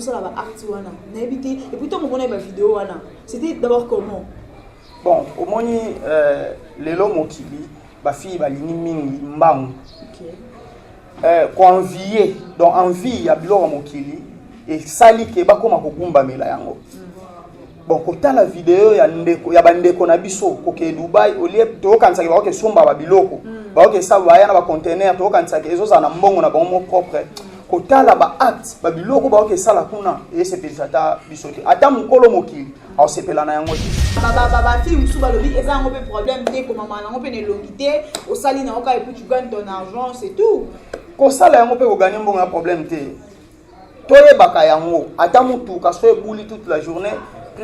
basala ba acte wana nayebi te epuis ntango omonaki bavideo wana c'était d'abord comment bon omoni euh, lelo mokili bafille balingi mingi mbangu okay. euh, koenvie donc envie ya biloko ya mokili esali ke bakóma kogumbamela yango mm. bon kotala video ya ndeko ya bandeko na biso kokee dubai olie toyokanisaki bakoki esomba babiloko mm. bakoki esala baya na bacontener toyokanisaki ezozala na mbongo na bango mo propre kotala baacte babiloko bakoki esala kuna esepelisa ata biso te ata mokolo mokili aosepela na yango te bafille mosusu balobi eza yango mpe problème te komama nango mpe na elongi te osali na yango kaka epuis tu gagne ton argent c'est tout kosala yango mpe koganye mbongo ya problème te toyebaka yango ata motuka so ebuli toute la journée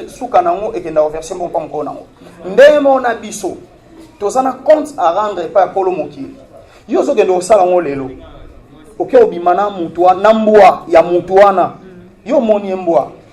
suka na yango ekenda koverse moko mpa mokolo na yango ndenge moko na biso toza na compte à rendre epai ya kolo mokili yo ozokende kosala yango lelo oke obima na motu na mbwa ya motu wana yo omoni ye mbwa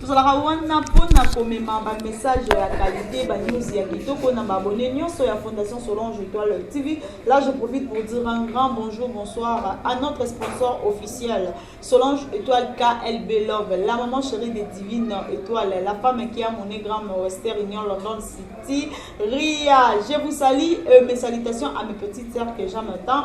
Tozalaka wana mpo na komema ba messages ya qualité, ba news ya kitoko na ba abonnés nyonso ya Fondation Solange Etoile TV. Là, je profite pour dire un grand bonjour, bonsoir à notre sponsor officiel, Solange Etoile KLB Love, la maman chérie des divines étoiles, la femme qui a mon gramme Western Union London City, Ria. Je vous salue, euh, mes salutations à mes petites sœurs que j'aime tant.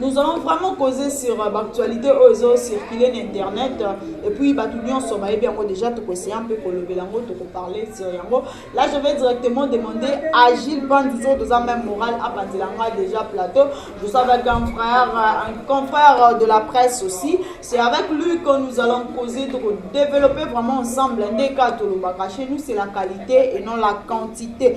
Nous allons vraiment causer sur euh, l'actualité oyo ezo circuler na internet euh, et puis bato nyonso bayebi yango déjà tokoeseye mpe kolobela yango tokoparle sur yango là je vais directement demander à Gilles Pandizo toza même moral apanzela nga déjà plateau je suis avec un frère euh, un confrère de la presse aussi c'est avec lui que nous allons causer toko développer vraiment ensemble nde ka tolobaka chez nous c'est la qualité et non la quantité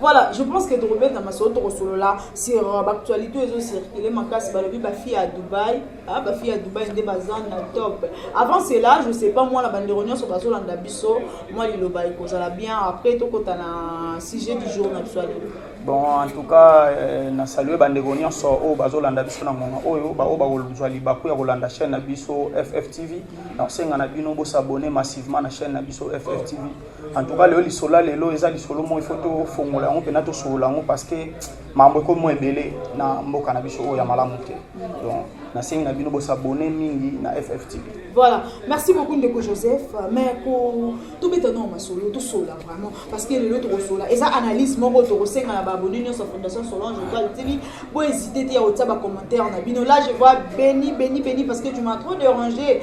Voilà, je pense que tokobeta masolo tokosolola sur euh, bactualité oyo ezocircule makasi balobi bafille ya dubai ah, bafille ya dubai nde baza na top avant cela je sais pas mwana bandeko nyonso bazolanda biso mwa liloba ekozala bien après tokota na sujet du jour na biso ya lelo bon en tout cas euh, na salue bandeko nyonso oyo bazolanda biso na ngonga oyo baoyo bakozwa libaku ya kolanda chaîne na biso fftv na kosenga na bino bosabone massivement na chaîne na biso fftv En tout cas, lelo lisolo ya lelo eza lisolo moko ifo tofongola yango mpena tosolola yango parce que makambo ekomi mwa ebele na mboka na biso oyo ya malamu te donc nasengi na bino bosabone mingi na fftv voilà merci beaucoup ndeko joseph mais ko tobeta nao masolo tosolola vraiment parce que lelo tokosolola eza analyse moko tokosenga na baabone nyonso ya fondation solange otoile tv bohésite te ya kotia bacommentaire na bino là je vois beni beni beni parce que tu m'as trop dérangé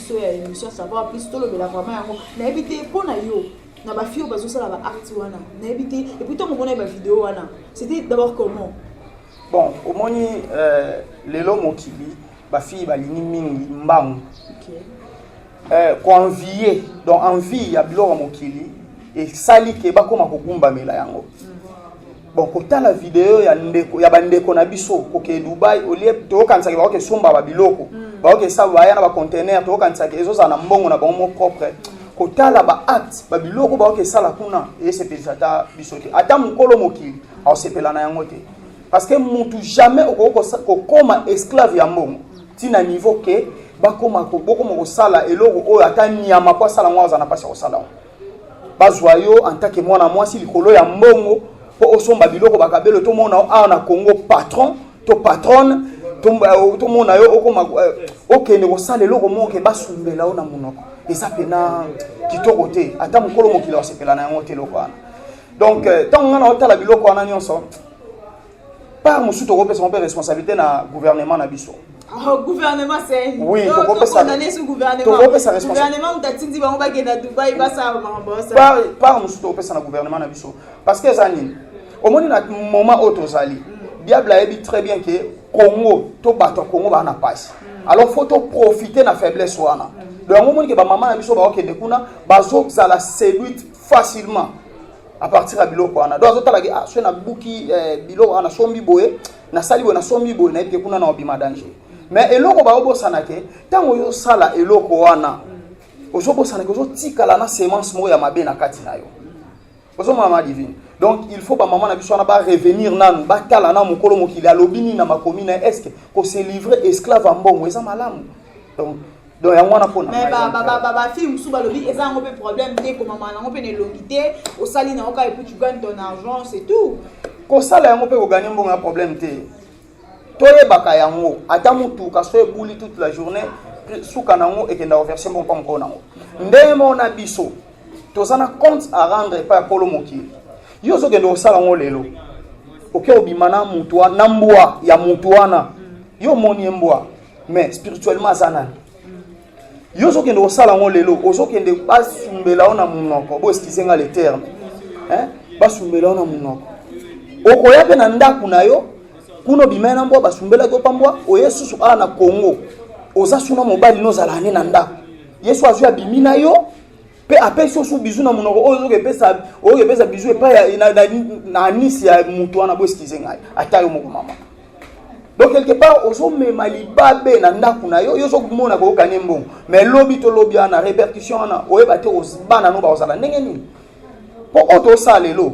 so ya émission savoir plus tolobela vraiment yango nayebi te mpo na yo na bafio bazosala ba acte wana nayebi te epuis ntango omona ye bavideo wana c'était d'abord comment bon omoni euh, lelo mokili bafille balingi mingi mbangu okay. euh, koenvie donc envie ya biloko ya mokili esali ke bakóma kogumbamela yango mm. bon kotala video ya ndeko ya bandeko na biso kokee dubai olie toyokanisaki bakoki esomba babiloko mm. bakoki esala baya na bacontener toyokanisaki ezozala na mbongo na bango mo propre kotala baacte babiloko bakoki esala kuna esepelisa ata biso te ata mokolo mokili aosepela na yango te parce que mutu jamais okoki kokoma esclave ya mbongo ntina niveau ke bakoma bokoma kosala eloko oyo ata nyama mpo asala yango aza na mpasi ya kosala yango bazwa yo en tant que mwana mwasi likolo ya mbongo mpo osomba biloko bakabelo tomona yo awa na congo patron to patronne euh, tomona yo okoma euh, okende kosala eloko moko ke basumbela yo na monoko eza mpena kitoko te ata mokolo mokili wasepela na yango te eloko wana donc ntango euh, ngai naotala biloko wana nyonso part mosusu tokopesa yango mpe responsabilité na gouvernement na biso Oh, gouvernement seni oui, tokondane su gouvernementgouvernement moto atindi bango bakenda dubai basala makambo part mosusu tokopesa na gouvernement na biso parce que eza nini omoni na moment oyo tozali mm. diable ayebi très bien ke congo to bato ya congo baa na mpasi mm. alors faut toprofite na faiblesse wana mm. donc yango omoni ke bamama na biso baokende kuna bazozala séduite facilement à partir ya biloko wana donc azotala ke ah, soki nabuki eh, biloko wana nasombi boye nasali boye nasombi boye nayebi te kuna na obima danger mais eloko baobosana ke ntango ozosala eloko wana ozobosana ke ozotikala na semence moko ya mabe na kati na yo ozomona ma divine donc il faut bamama na biso wana barevenir nanu batala na mokolo mokili alobi nini na makomi na estce kose livre esclave ya mbongo eza malamu donc donc yango wana mpona mais bafille mosusu balobi eza yango mpe problème te komama nango mpe na elongi te osali nango kaka epuis tu gagne ton argent c'est tout kosala yango mpe koganye mbongo ya problème te toyebaka yango ata motuka so ebuli toute la journée suka nango ekenda koverse mbongo mpa mokolo nango ndenge moko na biso toza na compte à rendre epai ya kolo mokili yo ozokende kosala yango lelo oke obima na motu na mbwa ya motu wana yo omoni ye mbwa mais spirituellement aza nani yo ozokende kosala yango lelo ozokende basumbela yo na monoko boeskize nga le terme basumbela yo na monoko okoya mpe na ndako na yo kuna obimai na mbwa basumbelaki yo pambwa oye susu awa na congo oza suna mobali nozala ane na ndako yesu azwi abimi na yo mpe apesi yo su bizu na monoko oyo ozoki epesa oyoki epesa bizu epai na anisi ya moto wana boeskize ngai ata yo moko mama donc quelque part ozomema libabe na ndako na yo yo ozokomona koyoka ne mbongo mais lobi to lobi wana répercussion wana oyeba te bana no bakozala ndenge nini mpo oyo tosala lelo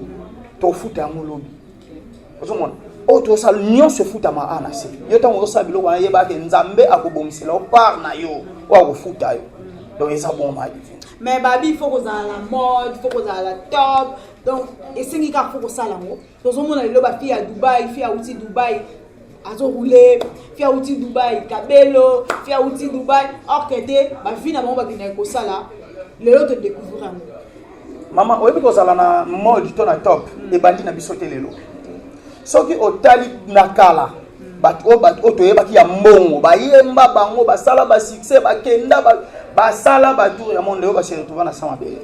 tofuta yango lobi ozomona oyo oh, tozosala nyonso efutama a na se yo ntango ozosala biloko wana yeba ke nzambe akobongisela yo part na yo oyo akofuta yo donc eza bongo ma divine mais babi il faut kozala na mode il faut kozala na top donc esengi kaka faut kosala yango tozomona lelo bafi ya dubai fi ya uti dubai azo roule fi awuti dubai kabelo fi awuti dubai or que te bavi na bango bakendaki kosala lelo to découvrir yango mama oyebi kozala na mode to na top mm. ebandi na biso te lelo soki otali na kala mm. bato oyo bato oyo toyebaki ya mbongo bayemba bango basala basuccès bakenda basala batour ya monde oyo base retrouva na sa mabele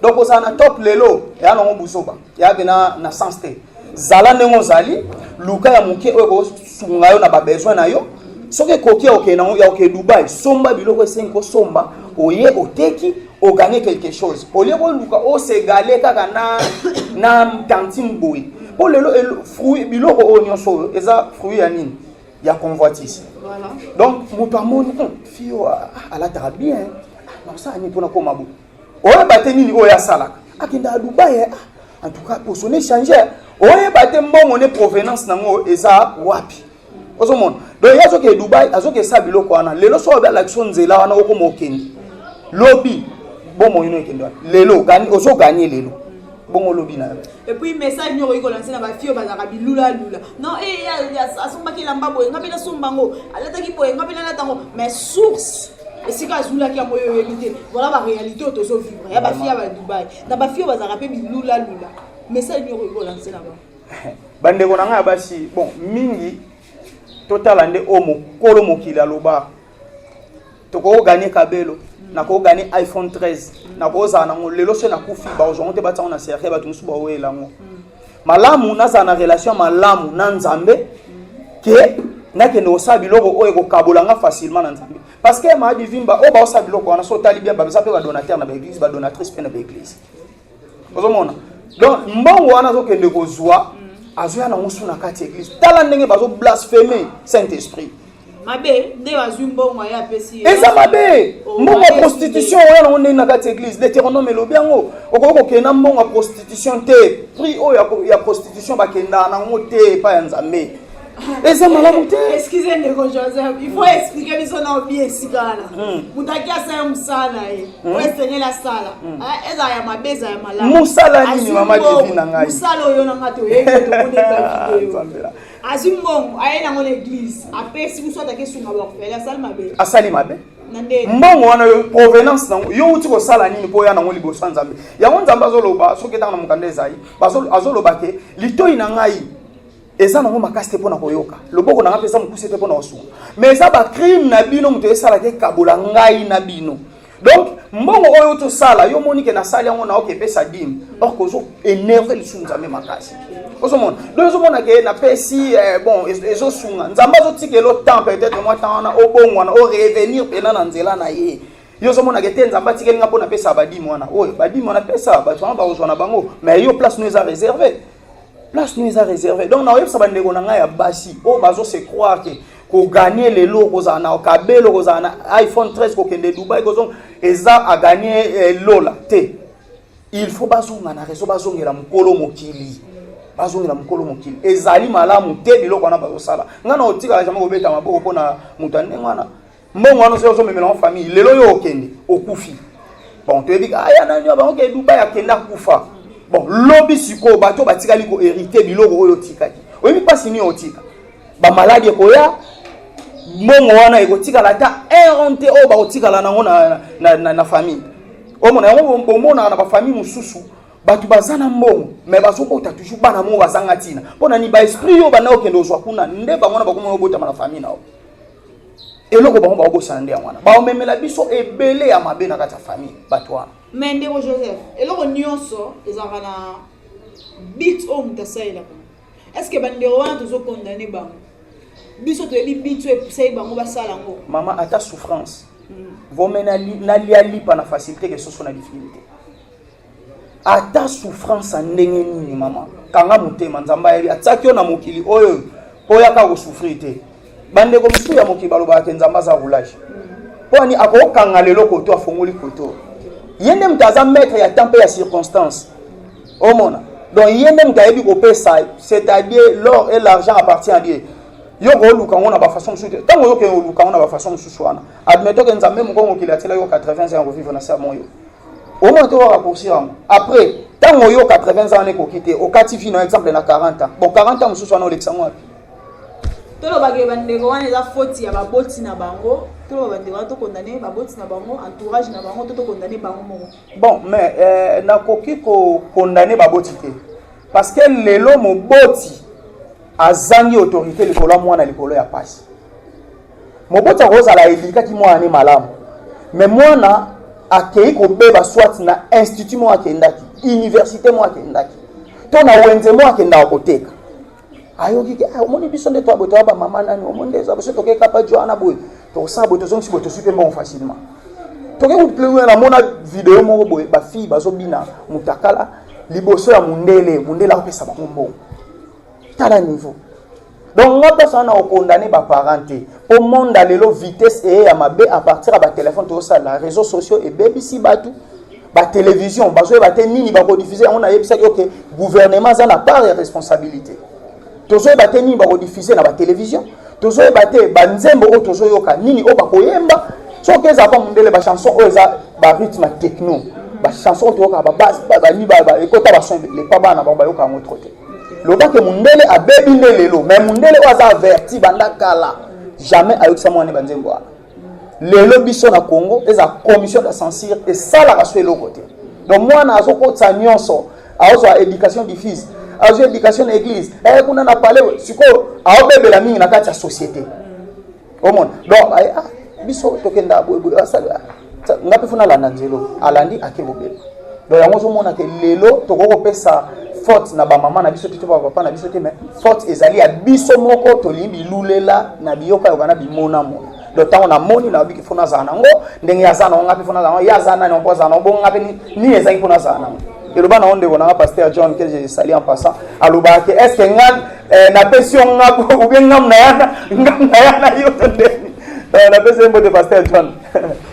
donc ozala na top lelo eya nango buzoba eya pena na sens te zala ndenge ozali luka ya moke oyo ekosunga yo na babesoin na yo soki ekoki ya kokende yango ya kokende dubai somba biloko esengi kosomba oye oteki oganye quelque chose olie koluka osegale kaka na na tantine boye mpo lelo fruit biloko oyo nyonso oyo eza fruit ya nini ya convoitise donc moto amoni hmm, fio ah, alataka bien nakosala ah, nini mpo nakoma boye oyeba te nini oyo asalaka akenda a dubai eh? en tout cas poso ne change eh? oyeba te mbongo ne provenance nango eza wapi ozomona donc ye azokende dubai azokesa biloko wana lelo soki obi alakisi nzela wana okoma okende lobi bongo ino ekende wana lelo ozoganye lelo bongo olobi na yo epuis message nini okoki kolanse na bafio bazalaka bilulalula non eh, asombaki elamba boye ngai mpe nasomba yango alataki boye ngai mpe nalata yango mais source esika azulaki yango yo oyebi te voilà ba réalité oyo tozo vivre ya bafi ya ba dubai na bafi oyo bazalaka mpe bilula lula message nini okoki kolanse na bango bandeko na ngai ya basi bon mingi totala nde oyo mokolo mokili aloba tokoki koganye kabelo mm. nakoki koganye iphone 13 mm. nakozala nango lelo so nakufi bakozwango te batiango na serre bato mosusu baweyela yango mm. malamu nazala na relation malamu na nzambe ke nakende kosala biloko oyo ekokabola nga facilement na nzambe parce que ma divimba oyo baosala biloko wana so otali bien baza mpe badonateur na baeglise badonatrice mpe na baeglise ozomona donc mbongo wana azokende kozwa azoya nango su na kati ya eglise tala ndenge bazoblaspheme saint esprit mabe nde bazwi mbongo aye apesi eza mabe oh, mbongo ya prostitution oya nango ndenge na kati ya église deuteronome elobi yango okoki kokende na mbongo ya prostitution te prix oyo ya prostitution bakendaka nango te epai ya nzambe eza malamu te excuse ndeko joseph il faut expliquer biso na obi esika wana hmm. moto aki asala ya mosala na ye hmm. oyo esengeli asala hmm. ah, ezala ya mabe ezala ya malamu mosala nini mama devi na ngai mosala oyo na ngai toyebi tomoneka video azwi mbongo aye nango na eglise apesi biso ataki esunga baorphelin asali mabe asali mabe mbongo wana yo provenance nango yo uti kosala nini mpo oya nango liboso ya nzambe yango nzambe azoloba soki etanga na mokanda ezali azoloba ke litoi na ngai eza nango makasi te mpo na koyoka loboko na ngai mpe eza mokuse te mpo na kosunga mais eza bacrime na bino moto esalaki ekabola ngai na bino donc mbongo oyo outi osala yo omoni ke nasali yango na oke epesa dime or kozo énerve lisusu nzambe makasi ozomona donc ozomona ke napesi eh, bon ezosunga nzambe azotikelo temps peut-être mwa temps wana obongwana orevenir mpena na nzela na ye yo ozomonaka ete nzambe atikeli nga mpo napesa badime wana oyo badime wana pesa bato wana bakozwa na bango mais yo place no eza réserve place nous a réservé donc na oyebisa bandeko na ngai ya basi oyo oh, bazo se croire que koganye lelo okozala na kabelo okozala na iphone 13 kokende dubai kozonga eza aganye eh, lola te il faut bazonga na reseau bazongela mokolo mokili bazongela mokolo mokili ezali malamu te biloko wana bazosala ngai na otikala jamai kobeta maboko mpo na moto ya ndenge wana mbongo wana soki ozomemela ngo famille lelo yo okende okufi bon toyebi ka aya nani yo bango ke dubai akenda kufa bon lobi sikoyo bato batikali ko hérite biloko oyo otikaki oyebi mpasi nini otika bamaladi ekoya mbongo wana ekotikala ata eron te oyo bakotikala nango na, na, na, na, na famille omona yango bomonaka na bafamille mosusu bato baza na mbongo me bazobota toujours bana moko bazanga ntina mpo na ni baesprit yo banda okende ozwa kuna nde bango na bakomona obotama na famille na yo eloko bango baobosana nde yango wana baomemela biso ebele ya mabe na kati ya famille bato wana me ndeko joseph eloko nyonso ezalaka na bit oyo moto asalelaka estce bandeko wana tozokondane bango biso toyebi bit oyo epusaki bango basala yango mama ata souffrance mm. vome nalia lipa na facilité ke soso na difficulté ata souffrance ya ndenge nini mama kanga motema nzambe ayebi atiaki yo na mokili oyo mpo oyaka kosouffrir te bandeko mosusu ya mokili balobaka te nzambe aza roulage mpo ani akokanga lelo koto afongoli koto ye nde moto aza maître ya temps mpe ya circonstance omona donc ye nde moto ayebi kopesa c'est-à-dire l'or et l'argent appartient à dieu yo kooluka yango na bafaçon mosusu te ntango oyokende oluka yango na bafaçon mosusu wana admettons ke nzambe moko mokili atyela yo 80 ans ya kovivre na sermon yo omona to kaka poursuivre yango après ntango oyo 80 ans wana ekoki te okati vie na exemple na 40 ans bon 40 ans mosusu wana olekisa yango wapi tolobaka bandeko wana eza foti ya baboti na bango toloba bandeko wana tokondane baboti na bango entourage na bango to tokondane bango moko bon mais euh, nakoki kokondane baboti te parce que lelo moboti azangi autorité likolo ya mwana likolo ya pasi moboti akozala elikaki mwana ne malamu me mwana akei kobeba swati na institut moko akendaki université moko akendaki to na wenze moko akendaka koteka ayoki ke ah, omoni biso nde toaboye toya bamama nani omoni nde eza biso tokekapa jo wana boye tokosala boye tozongisi boye toswi mpe mbongo facilement tokei namona video moko boye bafille bazobina motakala liboso ya mundele mundele akopesa bango mbongo tala niveau donc nga mposa wana okondane baparent te mpo monde lelo vitesse eye ya mabe à partir ya batelefone tozosalela réseau sociaux ebebisi bato batelevizio bazoyeba te nini bakodifuze yango nayebisaki oke gouvernement aza na part ya responsabilité tozoyeba te nini bakodifuze na batelevizio tozoyeba te banzembo oyo tozoyoka nini oyo bakoyemba soki eza mpo mondele bachanson oyo eza barythme techno bachanson oyo toyoka babase ekota bason lepa bana bango bayoka yango tro te loba ke mundele abebi nde lelo mais mundele oyo aza averti banda kala jamais ayokisa mwana banzembo wana lelo biso na congo eza commission de censure esalaka so eloko te donc mwana azokotisa nyonso azwa éducation diffuse azwa éducation na église eye eh, kuna na palais sikoyo aobebela mingi na kati ya société omona donc aye ah, biso tokenda boyeboye asali ah, nga mpe fo nalanda nzelo alandi ake kobela donc yango ozomona ke lelo tokoki kopesa faute na bamama na biso te to bapapa na biso te mais faute ezali ya biso moko tolingi bilulela na biyokayoka na bimonamona donc ntango namoni nayobiki fo nazala nango ndenge aza nango nga mpe fo nazala nango ye aza nani yango azala nango bongo nga mpe nini ezalaki mpo nazala nango eloba nango ndeko nanga paster john ke je sali en passant alobaka ke est ce que nga Eh, napesi yo ngabu oubien ngamu na yana ngamu na yana yo to ndeni eh, napesi ye mbote pasteur john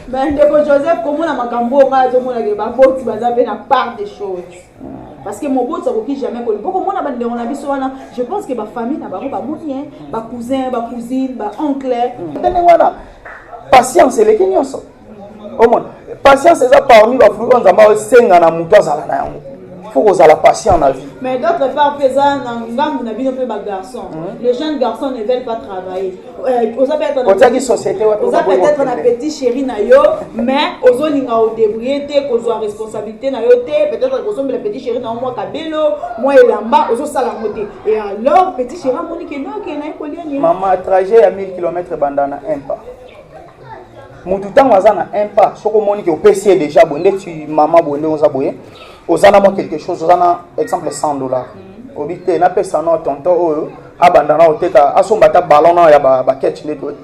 bandeko joseph komona makambo oyo ngai azomonake baboti baza mpe na part de choses parce que moboti akoki jamais koli mpo komona bandeko na biso wana je pense que bafamille na bango bamoni ye bacousin bacousine baoncle ndenge wana patience eleki nyonso omona patience eza parmi bafruit oyo nzambe asenga na moto azala na yango faut kozala patient na vie mais d'autre part mpe eza na ngambu na bino mpe bagarçon hmm. les jeunes garçons ne veulent pas travailler euh, oza peut-être société oza peut-être na petit chéri na yo mais ozolinga odébrouille te kozwa responsabilité na yo te peut-être kosombela petit chéri na yo mwa kabelo mwa elamba ozosala yango te et alors petit chéri amoni ke noke naye kolia nini mama trajet ya 1000 km ebanda na impa motu ntango aza na un pas soki omoni ke opesi ye déjà boye ndeti mama boye ndenge oza boye oza na mwa quelque chose oza na exemple 100 dollar mm. obi te napesa no tonton oyo abanda na oteka asomba ata ballon na ya baketch nde toye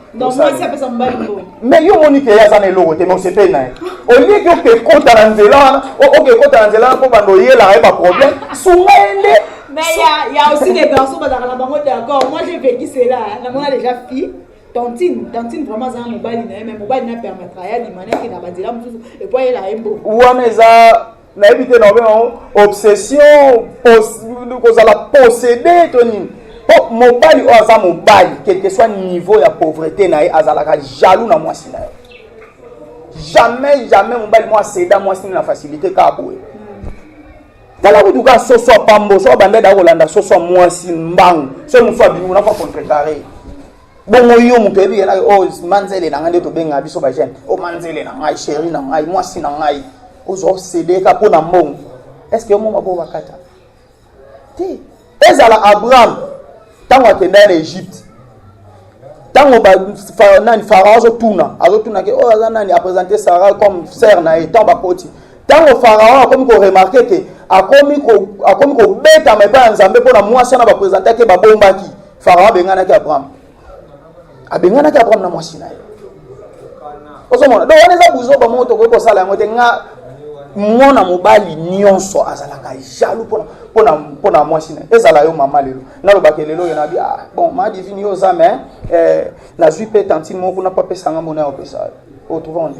mais yo omoni ke ye aza na eloko te mais osepeli na ye olie ke oke ekota na nzela wana oke ekota na nzela wana mpo banda oyelaka ye baproblème sunga ye nde Mais il y, y a aussi des garçons, dans la banque d'accord. Moi, j'ai vécu cela. Hein. Dans mon déjà fille. tantine tantine vraiment aza na mobali na ye me mobali na permettra ye alima na ekenda banzela mosusu epo ayela ye mbo wana eza nayebi te naobe yango obsession kozala possédé to nini mpo mobali oyo aza mobali quelque soit niveau ya pauvreté na ye azalaka jaloux na mwasi na ye jamais jamais mobali mwa aseda mwasi na facilité kaka boye tala kutu ka soso ya pambo soki abanda da kolanda soso ya mwasi mbangu soki mosusu abimi kuna mpo akontrekare bongo yo moto oyebi yena o oh, manzele na ngai nde tobenga biso bagene o oh, manzele na ngai sheri na ngai mwasi na ngai ozwa osedeka mpo na mbongo estce yo mongo bobakata te ezala abraham ntango akendaki na egypte ntango nani farao azotuna azotuna ke oyo oh, aza nani apresente sarah comme sere na ye ntango bakoti ntango farao akomi koremarke ke akomi kobetama epai ya nzambe mpo na mwasi wana bapresentaki babombaki farao abenganaki abraham abenganaki abraham na mwasi na ye ozomona donc wana eza buzoba moko tokoki kosala yango te nga mwana mobali nyonso azalaka jalu mpo na mwasi na ezala yo mama lelo nalobaka lelo oyo nabi ah, bon ma divine yo oza me eh, nazwi mpe tantine moko kuna mpo apesanga mona ya opesa Otuvange.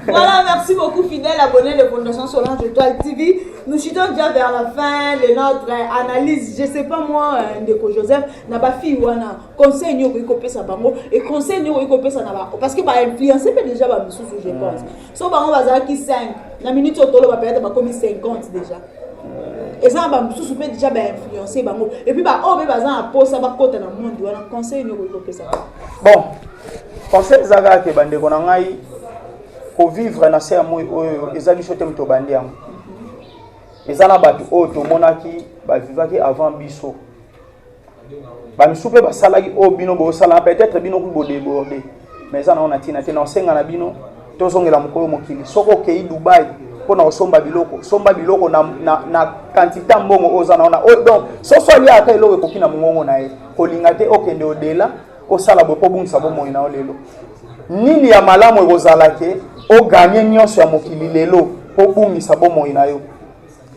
voilà, merci beaucoup, fidèle abonné de Fondation Solange Étoile TV. Nous chutons déjà vers la fin de notre euh, analyse. Je sais pas moi, euh, Ndeko Joseph, na ba fille wana conseil nyo ko pesa bango et conseil nyo ko pesa na ba parce que ba influencer déjà ba misusu je pense. so bango bazalaki 5 na minute oyo toloba peut-être bakomi 50 déjà eza na bamosusu mpe déjà bainfluence bango epuis baoyo mpe baza na mposa bakota na monde wana conseil nini okoki kopesa bon conseil eza kaka ke bandeko na ngai kovivre na se ya moi oyo eza biso te moto obandi yango eza na bato oyo tomonaki bavivaki avant biso bamisusu mpe basalaki oyo bino bosala peut-être bino kutu bodeborde mais eza nango na ntina te na osenga na bino tozongela mokolo mokili soki okei dubai mpo na kosomba biloko somba biloko na, na, na kantite ya mbongo oyo oza na ona donc soso alia ata eloko ekoki na mongongo na ye kolinga te okende odela osala boye mpo obungisa bomoi na yo lelo nini ya malamu ekozala te oganye nyonso ya mokili lelo mpo obungisa bomoi na yo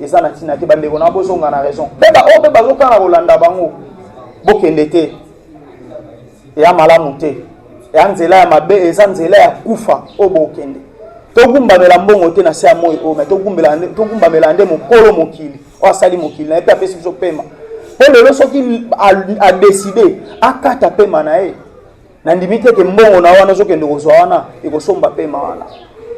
eza na ntina te bandeko na bozonga na raison mpe baoyo mpe bazokana kolanda bango bokende te eya malamu te eya nzela ya mabe eza nzela ya kufa oyo bokende togumbamela mbongo te na se ya moi oyo mai togumbamela nde mokolo mokili oyo asali mokili na ye mpe apesi biso pema mpo lelo soki adeside akata pema na ye nandimi te ke mbongo na wana ozokende kozwa wana ekosomba pema wana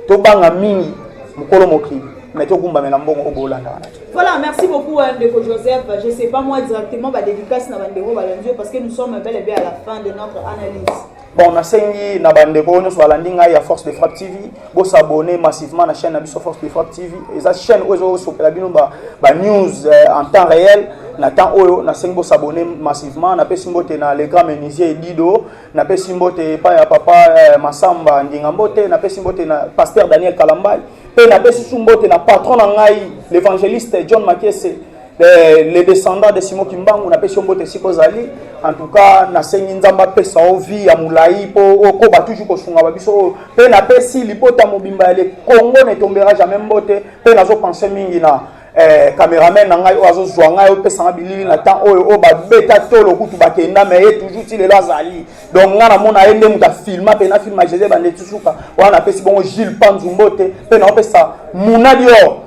tobanga mingi mokolo mokili mais togumbamela mbongo obolanda wana te voilà merci beaucoup hein, ndeko joseph je sais pas moi directement badédicace na bandeko balandi yo parce que nous sommes bel et bien à la fin de notre analyse bon nasengi na bandeko oyo nyonso balandi ngai ya force de frappe tv Bo s'abonner massivement na chaîne na biso Force de Frappe TV. Eza chaîne oyo ezo sopela bino ba, ba news euh, en temps réel. Na temps oyo na sengi bo s'abonner massivement. Na pesi mbote na le grand menuisier Dido, na pesi mbote pa ya papa euh, Masamba Nginga mbote, na pesi mbote na pasteur Daniel Kalambay, pe na pesi mbote na patron na ngai l'évangéliste John Makese. Eh, les descendants de Simon Kimbangu napesi yo mbote esika ozali en tout cas nasengi nzambe apesa yo vie ya molai mpo okoba toujours kosunga ba biso oyo mpe napesi libota mobimba ya le congo ne tombera jamais mbote mpe nazopense mingi na eh, cameraman na ngai oyo azozwa ngai opesa ngai bilili na temps oyo oyo babeta tolo kutu bakenda me ye toujours ti lelo azali donc ngai namona ye nde moto afilma mpe nafilma jese bandeti suka wana napesi bongo gile panzu mbote mpe naopesa munadior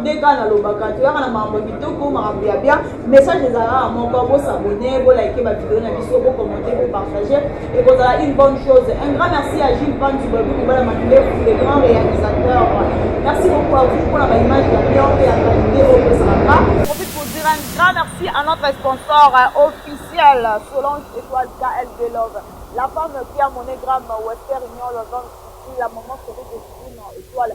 nde kaka nalobaka toyaka na makambo ya kitoko makambo ya bia message ezalaka moko bosabone bolaike bavideo na biso bokommente bopartage ekozala une bonne chose un grand merci à gilles pantu babi kobala mandefu le grand réalisateur merci beaucoup à vous mpona baimage ya bien mpe ya qualité oyo tosalaka profite pour dire un grand merci à notre sponsor euh, officiel solange étoile kl de love la femme qui a monogramme wester union lozon la maman chérie de étoile